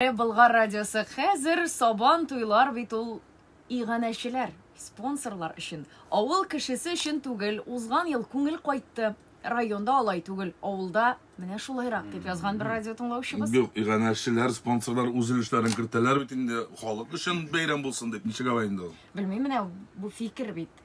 Э, Болгар радиосы хәзер сабан туйлар бит ул иганәчеләр, спонсорлар өчен. Авыл кешесе өчен түгел, узган ел күңел кайтты. Районда алай түгел, авылда менә шулайрак, дип язган бер радио тыңлаучыбыз. Юк, иганәчеләр, спонсорлар үз өлешләрен кертәләр бит инде, халык өчен бәйрәм булсын дип, ничек алай инде ул? Белмим, менә бу фикер бит.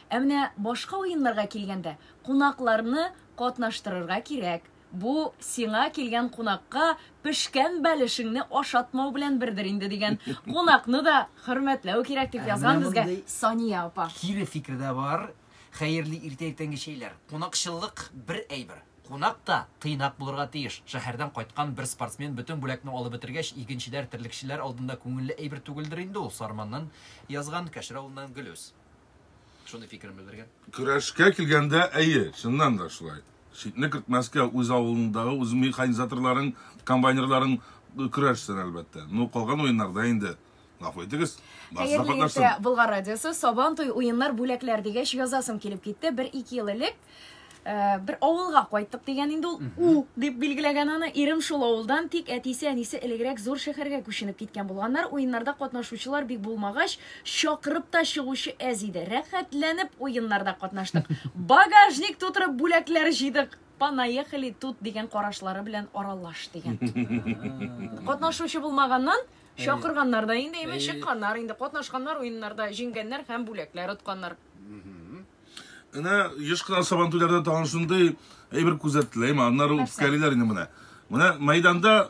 Ә менә башка уеннарга килгәндә, кунакларны катнаштырырга кирәк. Бу сиңа килгән кунакка пешкән бәлешеңне ашатмау белән бердер инде, дигән. Кунакны да хөрмәтләү кирәк, дип язган безгә Сания апа. Кире фикер дә бар. Хәерле иртә иртәнге чәйләр. Кунакчыллык бер әйбер. Кунак та тыйнак булырга тиеш. Шәһәрдән кайткан бер спортсмен бөтен бүләкне алып бетергәч, игенчеләр, терлекчеләр алдында күңелле әйбер түгелдер инде ул, Сарманнан язган, Кәшер авылыннан Гөлүс. Шундый фикерен белдергән. Көрәшкә килгәндә, әйе, чыннан да шулай. Читне кертмәскә үз авылындагы, үз механизаторларың, комбайнерларың көрәшсен, әлбәттә. Ну, калган уеннарда инде Гафу итегез. Хәерле иртә, Болгар радиосы. Сабан туй уеннар бүләкләр дигәч язасым килеп китте. Бер ике ел элек Э, бер авылга кайттык дигән инде ул у дип билгеләгән аны ирем шул авылдан тик әтисе әнисе элегрәк зур шәһәргә күченеп киткән булганнар уеннарда катнашучылар бик булмагач чакырып та чыгучы әз иде рәхәтләнеп уеннарда катнаштык багажник тутырып бүләкләр җыйдык понаехали тут дигән карашлары белән аралаш дигән катнашучы булмаганнан чакырганнар да инде әйме чыкканнар инде катнашканнар уеннарда җиңгәннәр һәм бүләкләр отканнар Менә еш кына сабантуйларда тагын шундый әйбер күзәтелә, әйме, аннары үпкәлиләр инде менә. Менә мәйданда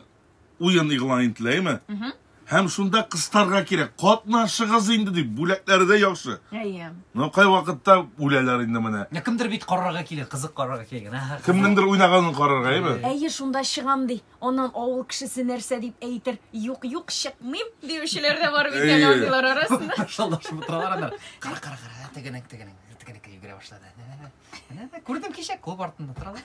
уен игълан ителә, әйме? Һәм шунда кыстарга кирәк. Катнашыгыз инде дип, бүләкләре дә яхшы. Әйе. Но кай вакытта үләләр инде менә. Кемдер бит карарга килә, кызык карарга килгән. Кемнеңдер уйнаганын карарга, әйме? Әйе, шунда чыгам ди. Аннан авыл кешесе нәрсә дип әйтер? Юк, юк, чыкмыйм, диючеләр дә бар бит әле андыйлар арасында. Шалдашып утыралар алар. Кара, кара, кара, тегенең, тегенең, тегенеке йөгерә башлады. Күрдем кичә клуб артында торалар.